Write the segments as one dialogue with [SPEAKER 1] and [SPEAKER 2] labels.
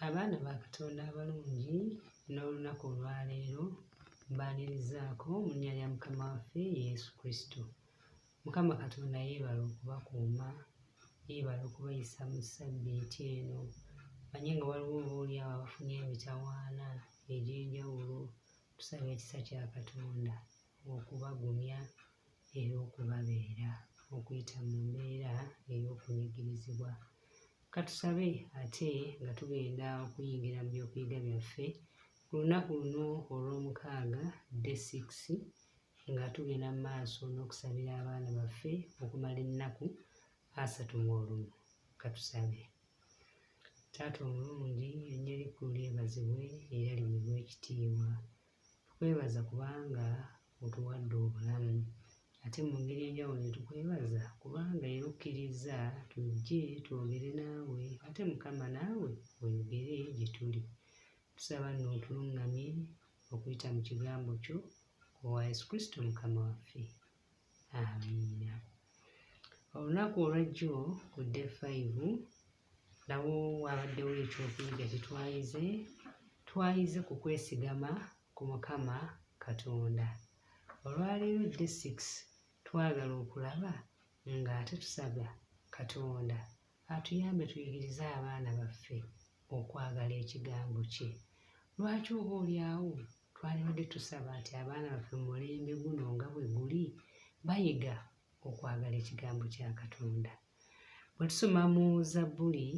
[SPEAKER 1] Abaana ba Katonda abalungi n'olunaku olwaleero mbaanirizaako mu nnya lya Mukama waffe Yesu Kristo. Mukama Katonda yeebala okubakuuma, yeebala okubayisa mu ssabbiiti eno. Manye nga waliwo oba oli awo abafunye emitawaana egy'enjawulo, tusaba ekisa kya Katonda okubagumya era okubabeera okuyita mu mbeera ey'okunyigirizibwa. Katusabe ate nga tugenda okuyingira mu byokuyiga byaffe ku lunaku luno olw'omukaaga de 6 nga tugenda mu maaso n'okusabira abaana baffe okumala ennaku asatu mu olumu. Katusabe. Taata omulungi erinnya lyeggulu lyebazibwe era liweebwe ekitiibwa. Tukwebaza kubanga otuwadde obulamu. Ate mu ngeri enjawulo ne tukwebaza kubanga era okkirizza tujje twogere naawe ate Mukama naawe oyogere gye tuli. Tusaba nno otulungamye okuyita mu kigambo kyo owa Yesu Kristo Mukama waffe. Amiina. Olunaku olwajjo ku dde 5 nawo waabaddewo ekyokuyiga kye twayize twayize ku kwesigama ku mukama katonda olwaleero d 6 twagala okulaba ng'ate tusaga katonda atuyambe tuyigirize abaana baffe okwagala ekigambo kye lwaki oba olyawo twalibadde tusaba nti abaana baffe mu mulembe guno nga bwe guli bayiga okwagala ekigambo kya katonda Bwe tusoma mu Zabbuli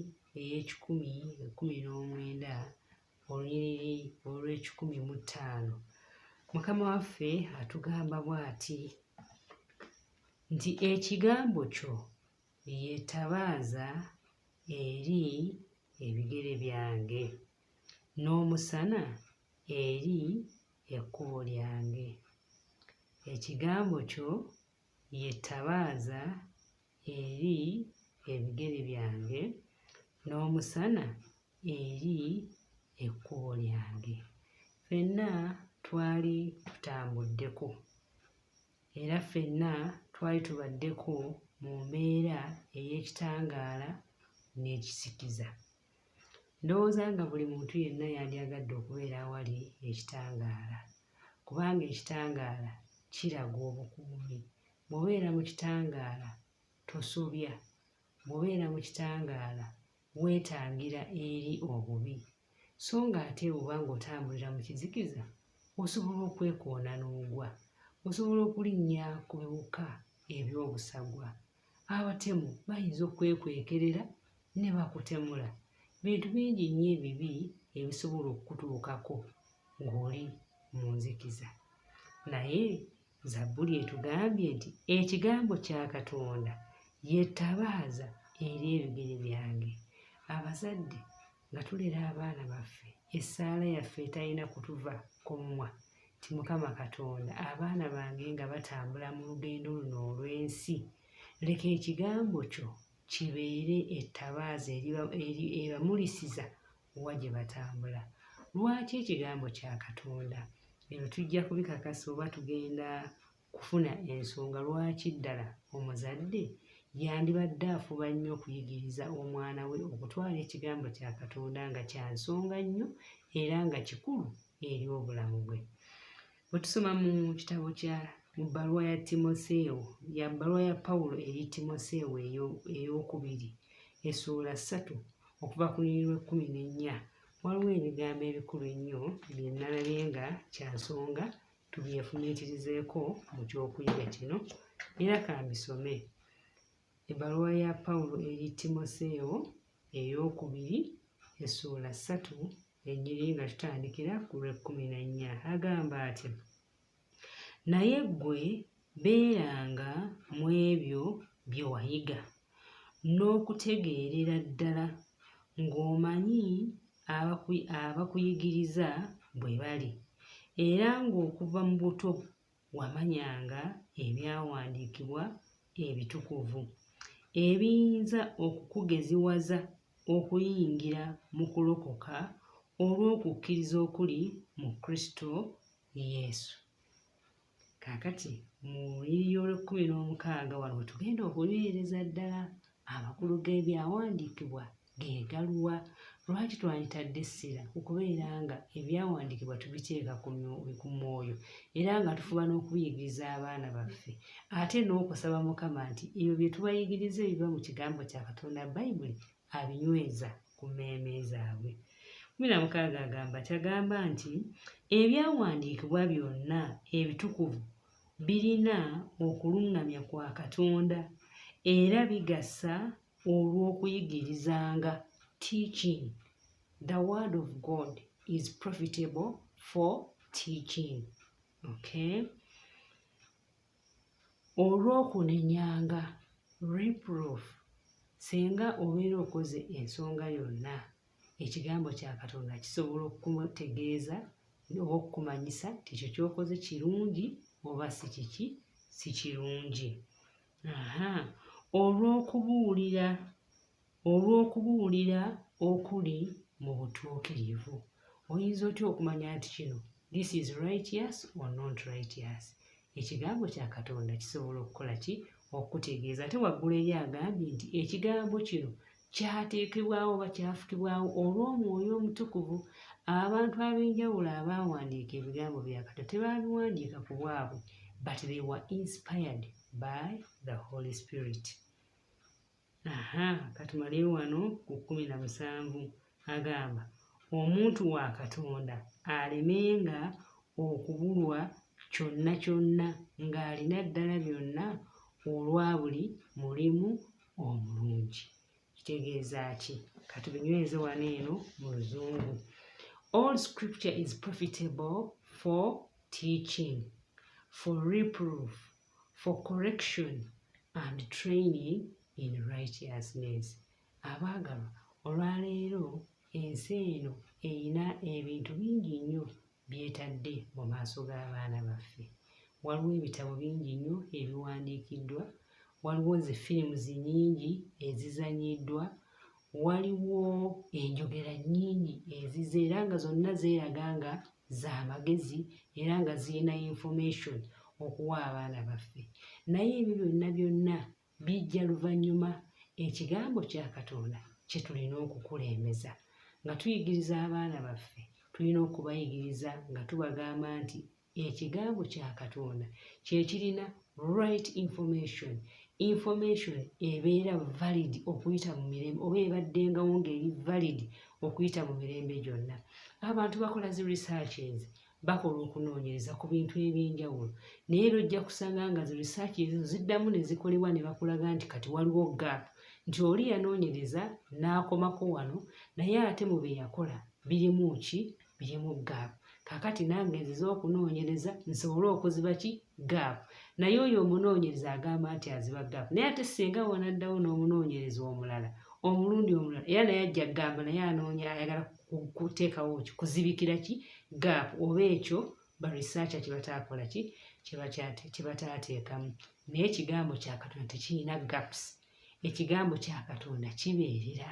[SPEAKER 1] ey'ekikumi ekkumi n'omwenda olunyiriri olw'ekikumi mu ttaano mukama waffe atugamba bw'ati nti ekigambo kyo yetabaaza eri ebigere byange n'omusana eri ekkubo lyange ekigambo kyo y'ettabaaza eri ebigere byange, n'omusana eri ekkubo lyange. Ffenna twali tutambuddeko era ffenna twali tubaddeko mu mbeera ey'ekitangaala n'ekisikiza. Ndowooza nga buli muntu yenna yandyagadde okubeera awali ekitangaala, kubanga ekitangaala kiraga obukuumi. Bw'obeera mu kitangaala tosobya, bw'obeera mu kitangaala weetangira eri obubi, so ng'ate bw'oba ng'otambulira mu kizikiza osobola okwekoona n'ogwa, osobola okulinnya ku biwuka eby'obusagwa. abatemu bayinza okukwekwekerera ne bakutemula bintu bingi nnyo ebibi ebisobola okukutuukako ng'oli mu nzikiza naye zabbuli etugambye nti ekigambo kya katonda yetabaaza eri ebigere byange abazadde nga tulera abaana baffe essaala yaffe etalina kutuva ku mumwa nti mukama katonda abaana bange nga batambula mu lugendo luno olw'ensi leka ekigambo kyo kibeere ettabaaza ebamulisiza wa gye batambula lwaki ekigambo kya katonda ebyo tujja kubikakasa oba tugenda kufuna ensonga lwaki ddala omuzadde yandibadde afuba nnyo okuyigiriza omwana we okutwala ekigambo kya Katonda nga kya nsonga nnyo era nga kikulu eri obulamu bwe. Bwe tusoma mu kitabo kya mu bbaluwa ya Timoseewo ya bbaluwa ya Pawulo eri Timoseewo ey'okubiri essuula ssatu okuva ku lunyiriri lw'ekkumi n'ennya waliwo ebigambo ebikulu ennyo bye nnalabye nga kya nsonga tubyefumiitirizeeko mu ky'okuyiga kino era ka mbisome ebbaluwa ya pawulo eri timoseewo ey'okubiri essuula ssatu ennyiri nga tutandikira ku lw'ekkumi n'ennya agamba ati naye ggwe Beeranga mu ebyo bye wayiga n'okutegeerera ddala ng'omanyi abakuyigiriza bwe bali, era ng'okuva mu buto wamanyanga ebyawandiikibwa ebitukuvu, ebiyinza okukugeziwaza okuyingira mu kulokoka olw'okukkiriza okuli mu Kristo Yesu. Kaakati mu lunyiriri olw'ekkumi n'omukaaga wano we tugenda okunywereza ddala amakulu g'ebyawandiikibwa ge galuwa. Lwaki twanditadde essira ku kubeera nga ebyawandiikibwa tubiteeka ku mwoyo era nga tufuba n'okubiyigiriza abaana baffe ate n'okusaba Mukama nti ebyo bye tubayigiriza ebiva mu kigambo kya Katonda Bayibuli abinyweza ku mmeeme zaabwe. kumi na mukaaga agamba kyagamba nti ebyawandiikibwa byonna ebitukuvu birina okuluŋŋamya kwa Katonda era bigasa olw'okuyigirizanga teaching the word of God is profitable for teaching okay Olw'okunenyanga, reproof, singa obeera okoze ensonga yonna, ekigambo kya Katonda kisobola okukutegeeza oba okukumanyisa nti ekyo ky'okoze kirungi oba si kiki si kirungi. Aha. Olw'okubuulira olw'okubuulira okuli mu butuukirivu. Oyinza otya okumanya nti kino this is righteous or not righteous? Ekigambo kya Katonda kisobola okukola ki? Okukutegeeza. Ate waggulu eri agambye nti ekigambo kino kyateekebwawo oba kyafukibwawo olw'omwoyo omutukuvu. Abantu ab'enjawulo abaawandiika ebigambo bya Katonda tebaabiwandiika ku bwabwe, but they were inspired by the Holy Spirit. aha katumale wano ku kkumi na musanvu agamba omuntu wa katonda alemenga okubulwa kyonna kyonna ng'alina ddala byonna olwa buli mulimu omulungi kitegeeza ki katubinyweze wano eno mu luzungu all scripture is profitable for teaching for reproof for correction and training in righteousness abaagalwa olwaleero ensi eno erina ebintu bingi nnyo byetadde mu maaso g'abaana baffe waliwo ebitabo bingi nnyo ebiwandiikiddwa waliwo zi firimuzi nyingi ezizanyiddwa waliwo enjogera nnyingi ezize era nga zonna zeeraga nga za magezi era nga zirina information okuwa abaana baffe naye ebyo byonna byonna bijja luvannyuma ekigambo kya katonda kye tulina okukulembeza nga tuyigiriza abaana baffe tulina okubayigiriza nga tubagamba nti ekigambo kya katonda kyekirina right information information ebeera valid okuyita mu mirembe oba ebaddengawo ngaeri valid okuyita mu mirembe gyonna abantu bakola zi researches bakola okunoonyereza ku bintu ebyenjawulo naye era ojja kusanga nga zi research ezo ziddamu ne zikolebwa ne bakulaga nti kati waliwo gap nti oli yanoonyereza n'akomako wano naye ate mu bye yakola birimu ki birimu gaapu kakati nange nzize okunoonyereza nsobole okuziba ki gaapu naye oyo omunoonyereza agamba nti aziba gaapu naye ate singa wanaddawo n'omunoonyereza omulala omulundi omulala era naye ajja kugamba naye anoonya ayagala kuteekawo ki kuzibikira ki gaapu oba ekyo barisaaca kyebataakola ki kyebataateekamu naye ekigambo kyakatonda tekirina gapusi ekigambo kya katonda kibeerera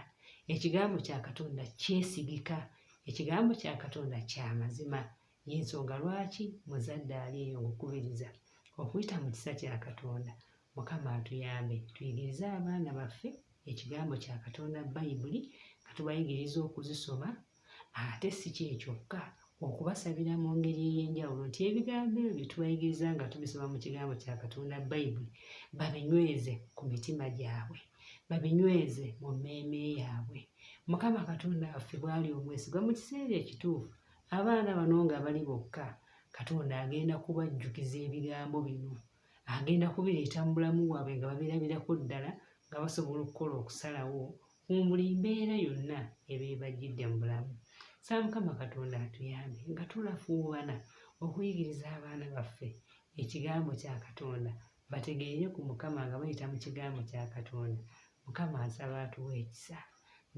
[SPEAKER 1] ekigambo kya katonda kyesigika ekigambo kya katonda kya mazima yensonga lwaki muzadde ali eyo ngukubiriza okuyita mu kisa kya katonda mukama atuyambe tuyigirize abaana baffe ekigambo kya katonda bayibuli nga tubayigiriza okuzisoma Ate si kye kyokka, okubasabira mu ngeri ey'enjawulo nti ebigambo ebyo bye tubayigiriza nga tubisoma mu kigambo kya Katonda Bayibuli babinyweze ku mitima gyabwe, babinyweze mu mmeeme yaabwe. Mukama Katonda waffe bw'ali omwesigwa mu kiseera ekituufu, abaana bano nga bali bokka, Katonda agenda kubajjukiza ebigambo bino. Agenda kubireeta mu bulamu bwabwe nga babirabirako ddala nga basobola okukola okusalawo mu buli mbeera yonna eba ebajjidde mu bulamu. Nsaba Mukama Katonda atuyambe nga tulafuubana okuyigiriza abaana baffe ekigambo kya Katonda bategeere ku Mukama nga bayita mu kigambo kya Katonda. Mukama nsaba atuwe ekisa,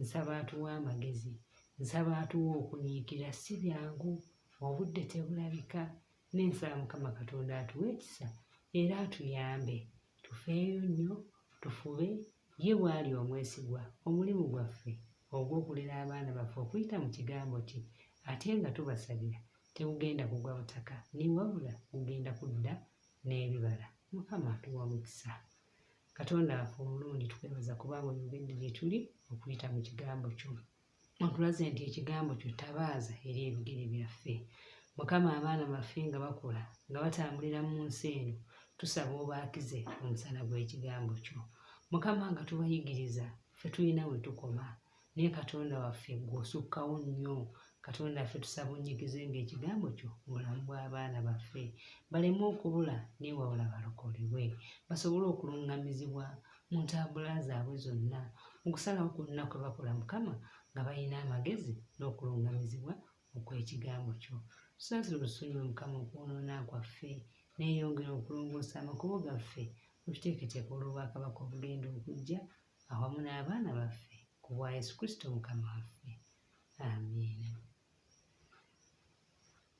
[SPEAKER 1] nsaba atuwe amagezi, nsaba atuwe okunyiikira si byangu obudde tebulabika naye nsaba mukama katonda atuwe ekisa era atuyambe Tufeeyo nnyo, tufube, Ye bw'ali omwesigwa, omulimu gwaffe ogw'okulera abaana baffe okuyita mu Kigambo kye ate nga tubasabira tegugenda kugwa butaka ni wabula gugenda kudda n'ebibala. Mukama atuwe omukisa. Katonda waffe omulungi, tukwebaza kubanga oyogedde gye tuli okuyita mu Kigambo kyo. otulaze nti ekigambo kyo tabaaza eri ebigere byaffe mukama abaana baffe nga bakula nga batambulira mu nsi eno tusaba obaakize omusana gw'ekigambo kyo mukama nga tubayigiriza ffe tulina we tukoma naye katonda waffe gwosukkawo nnyo katonda affe tusaba onyigize ngaekigambo kyo mubulamu bw'abaana baffe baleme okubula newawula balokolebwe basobole okulungamizibwa mu ntambula zaabwe zonna mu kusalawo kwonna kwe bakola mukama nga balina amagezi n'okulungamizibwa okw'ekigambo kyo tusasire olusonyiwe mukama okwonoona kwaffe neeyongera okulongoosa amakubo gaffe mututeeketeeka olw'obwakabaka obugenda okujja awamu n'abaana baffe ku bwa yesu kristo mukama waffe amiina